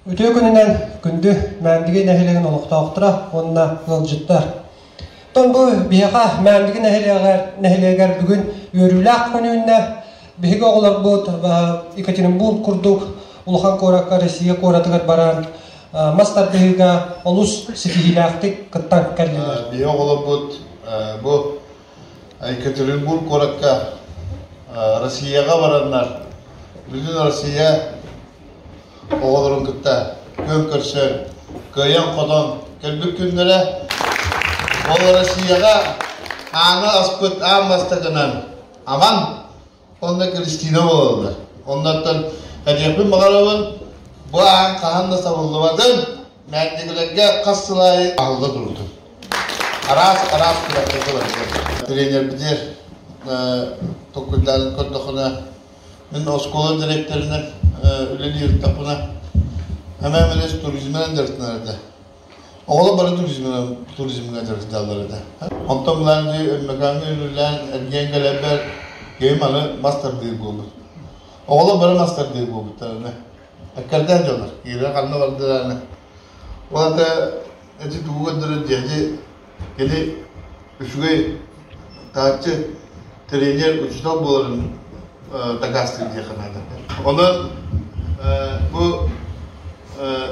Үтүө күнүнэн күндү Мээндиги нэһилиэгин олохтоохторо уонна ыалдьыттар. Оттон бу биһиэхэ Мээндиги нэһилиэгэр, нэһилиэгэр бүгүн үөрүүлээх күн үүннэ. Биһиги оҕолорбут Екатеринбург курдук улахан куоракка Россия куоратыгар баран мас тардыһыыга олус ситиһиилээхтик кыттан кэллилэр. Биһиги оҕолорбут бу Екатеринбург куоракка Россияҕа бараннар Бүгүн Россия оҕолорун кытта күөн көрсөн, кыайан-хотон кэлбит күннэрэ. Ол Россияҕа ааны аспыт аан бастакынан Аман Онно Кристина буолаллар. Оннуттан кэтиэхпин баҕарабын. Бу ааҥ хаһан да сабыллыбатын, мээндикилэргэ хас сыл аайы аһылла турутун. Араас араас күрэххэ сылдьар. Тренербитигэр токкуйдаарын көрдөххүнэ, мин оскуола директорынан үлэлиир ырыттахпына, Әмэ Эмилиев туризмынан дьарыктанар этэ. Оҕолор бары туризмынан туризмҥа дьарыктааллар этэ. Онтон мыланgi, өммөкаанга үлүллээн эргийэн кэлэрбэр киһим аны мас тардыыр буолбут. Оҕолор бары мас тардыыр буолбуттар аны. Эккэрдээн дьоннор, киирэ ханна бардылар аны. Ол ата ити тугу көрдөрөр дьэди Ити үчүгэй тааччы тренер, учуутал буоларын дакаастыыр диэххэ наада. Ону бу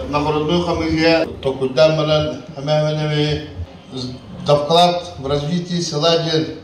нагородную фамилия токуйдаан баран эмээхмин эми давклад в развитии села диэн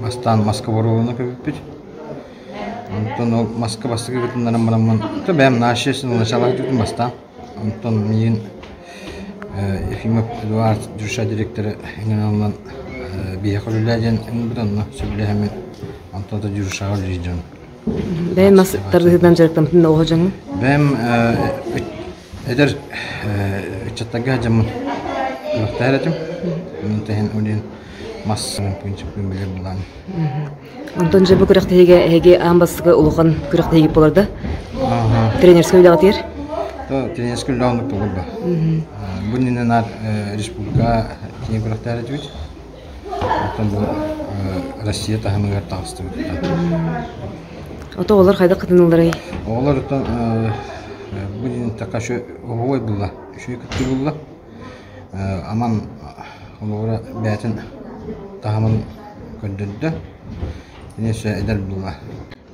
Бастаан маска боруобалана көбүппүт. Онтон ол маска бастакы кытыннаран бараммын, то бэйэм научнайшинал начала көтүтүм бастаан. Онтон миигин Ефимов Эдуард Джуша дириктэрэ иҥэрэн биһиэхэ үлэлээ диэн ылбыт онно сөбүлэһэммин онтон ата Джушаҕа үлэлиир дьон. Бэйэм мас тардыһыытынан дьарыктаммытын да оһо дьоҥҥун? Бэйэм Эдэр ыччаттарга сылдьаммын үөрэхтээһин этим. Онон иһин ол иһин мас принциппин билэр былаан. Онтон дьэ бу күрэхтэһиигэ эһиги аан бастакы улахан күрэхтэһии буолар да? Тренерскэй үлэҕитигэр? Тренерскэй үлэҕим туолар да. Бу иннинэ республика киин күрэхтэһэр этибит. Оттон бу Россия таһымыгар таҕыстыбыт да. Ото олор хайдах кытынылларый? Оҕолор оттон бу день такая еще оҕуой булла, еще кыттыы булла. Аман олоҕура бээтин таһымын көрдөрдө. Конечно, эдэр булла.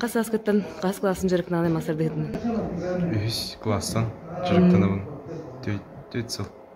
Хас сааскыттан хас классым дьарыктаналай мастардыһытын? Үһүс класстан дьарыктанабын. Төрт сыл.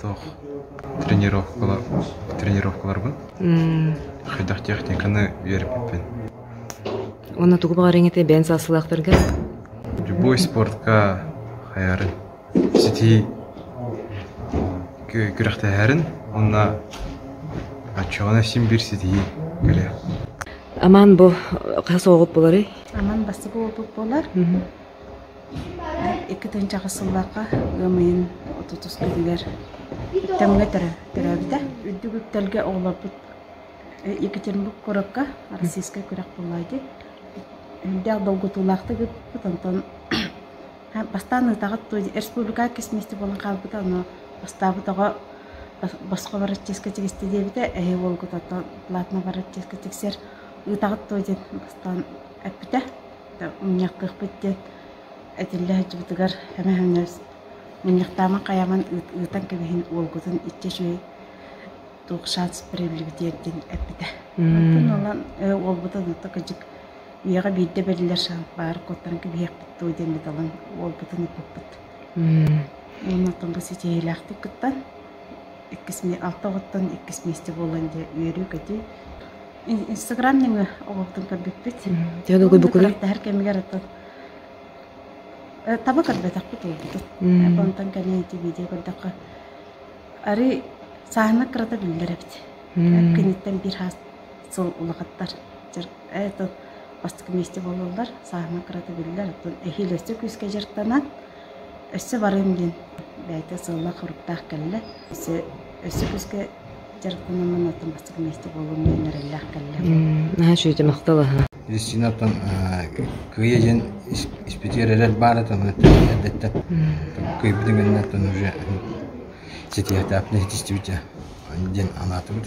Туох тренировкалар тренировкаларбын хайдах техниканы үөрэппиппин уонна тугу баҕарыаҥ этэй бэйэҥ саастыылаахтарга любой спортка хайаарын ситии күрэхтэһэрин уонна оччоҕуна син-биир ситиһии кэлиэ аман бу хас оҕугут буоларый аман бастакы уопут буолар Икки тыһыынчаҕа сыллаахха ыам ыйын отутускатыгар Тэмҥэ төрөөбүтэ. Үрдүк үктэлгэ оҕолорбут Екатеринбург куоракка Российскай күрэх буолаайди. Үрдээх долгутуулаахтык ыыппыт, онтон бастаан ыытаҕыт туо республикаҕа кис мисти буолан хаалбыта, ону бастаабыт оҕо босхо бараччыска тигисти диэбитэ, эһи уолгут оттон платно бараччыска тиксэр. Ыытаҕыт туо диэн бастаан эппитэ. Мунньахтыахпыт диэн этиллэ сылдьыбытыгар эмэһэҥҥэ мунньахтааман хайаман ыытан кэбиһин уолгутун иччи үчүгэй туох шанс бэриллибит диэн эппитэ. Онтон ылан уолбутун ата кыдьык үйэҕэ биирдэ бэриллэр шанс баар куттан кэбиһиэхпит дуо диэн биталан уолбутун ыппыппыт. Оннуттан бу ситиһиилээхтик кыттан иккис миэсте буолан дьэ үөрүү-көтүү Инстаграм нөҥүө оҕолортон көрбүппүт. Дьэ, Уйгур бу күрэх кэмигэр оттон таба көрбөтөхпүт уйгуту. Онтон кэнэ ити видео көрдөххө арый сааһына кырата биллэр эбит. Киниттэн биир хаас сыл улахаттар это бастакы месте буолаллар. Сааһына кырата биллэр. Оттон эһиилэстик күүскэ дьарыктанан Өссө барыам диэн бэйэтэ сыллаах-соруктаах кэллэ. Өссө өссө күүскэ дьарыктанаммын оттон бастакы миэстэ буолуум диэн эрэллээх кэллэ. наһаа үчүгэйдик махтал Кристинаттан кыайа диэн испитигэр эрэл баар этэ маны эрдэттэ кыайбытын кэннэ оттон уже ситиһиэхтээхпинэ ситистибит диэн анаатыбыт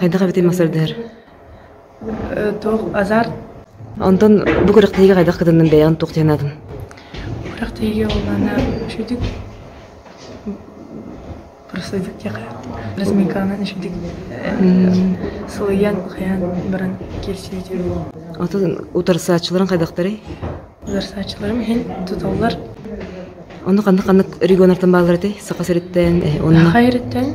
Хайдах эбитин массардыһар? Туох азарт? Онтон бу күрэхтэһиигэ хайдах кытыннын бэйэҕин туох диэн аатын? Күрэхтэһиигэ олана үшүдүк проследик диэхэ разминканан үшүдүк сылыйан хайаан баран киирсиити. Отон утарсааччыларын хайдахтарый? Утарсааччыларым иһин тутуллар. Ону ханнык-ханнык регионартан бааллар этэй? Саха сириттэн, онно? Саха сириттэн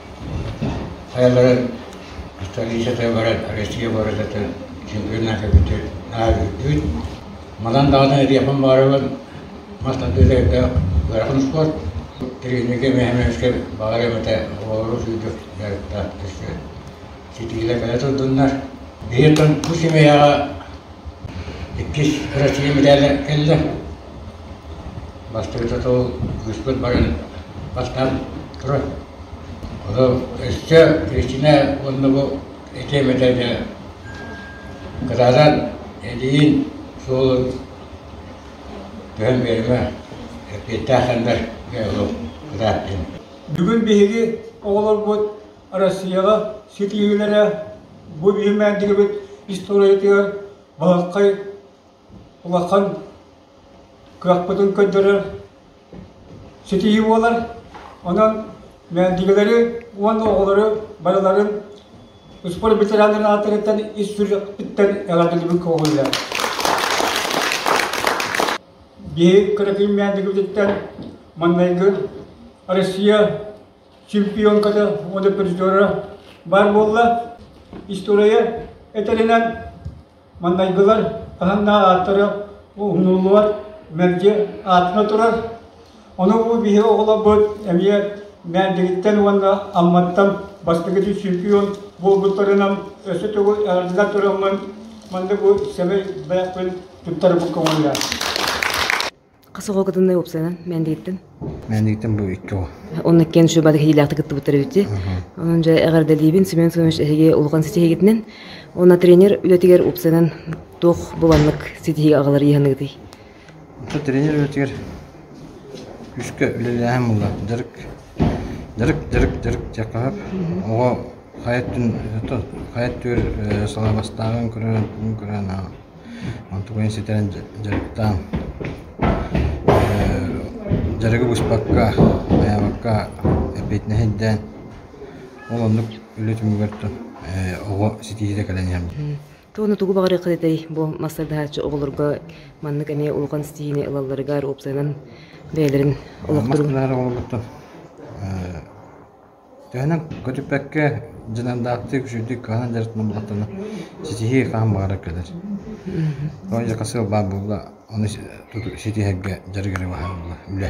Айаларын столицата баран Россия барытатын чемпионат эбитин ааһыыбыт. Манан даҕаны эриэпэн баарыбын мас тардыытайга ыарахан спорт тренергэ мэхэмэскэ баҕарым этэ оҕолору сүүрдүк дьарыктаахтышы ситиилэ кэлэ турдуннар биһи тон бу семьяҕа иккис Россия медаля кэллэ Бастакыта тыл быспыт баран бастаан «Турай, ону өссө Кристина уонна бу этиэм этэ да кытаанан илиин суолун түһэн биэримэ, эппиэттээх хандар оҕо кытааттын». Бүгүн биһиги оҕолорбут Россияҕа ситиһиилэрэ бу биһирмээн дэгибит историятыгар балаххай улахан кыахпытын көрдөрөр ситиһии буолар. Онон мээндигэлэри уонна оҕолору барыларын спорт ветераннарын аатырыттан ис сүрэхпиттэн эҕэрдэлибин көҕүллээн. Биһи кыракый мээндигибититтэн маннайгы Россия чемпионката уонна призера баар буолла. История этэринэн Маннайгылар таһыннаах ааттары уһуннуллубат мэлдьи аатына турар. Ону бу биһи оҕолорбут эмиэ мээндигиттэн уонна Амматтан бастакы түсүкүүн буолбуттарынан өссө тугу эҕэрдэлэр тураммын маннык бу сэмэй бэлэхпин туттарбыккын уйар. Хас оҕогытыннай уопсайынан мээндигиттин? Мээндигиттин бу икки оҕо. Онно иккиэн шөбады хилиилээхтик кыттыбыттар эбитти. Онон дьэ эҕэрдэлиибин Семен Семенович эһиги улахан ситиһигитинэн. Онно тренер үлэтигэр уопсайынан туох буланнык ситиһиги агалар иһаныгытый? Онто тренер үлэтигэр үскэ үлэлээһин булла. Дырык дырык дырык дырык дьакаап. Оҕо хайат түн хайат түөр салабастааҕын көрөн көрөн Онтукайын ситэн дьарыктаан дьарыгы быспакка, айабакка эппиэтинэһирдээн ол оннук үлэ түмүгэр оҕо ситиһиитэ кэлэн иһэн Туону тугу баҕарыахха этэй бу массардааччы оҕолорго маннык эмиэ улахан ситиһиини ылалларыгар уопсайынан бэйэлэрин олохторун Төһөнөн көтүппэккэ, дьадаҥдаахтык, үчүгэйдик кыһанан дьарыктанар буоллахтарына, ситиһии хаһан баҕарар кэлэр. Тоҕо дьылҕа сыал баар буолла, ону ситиһэргэ дьарык эрэ баһар буолла, үлэ.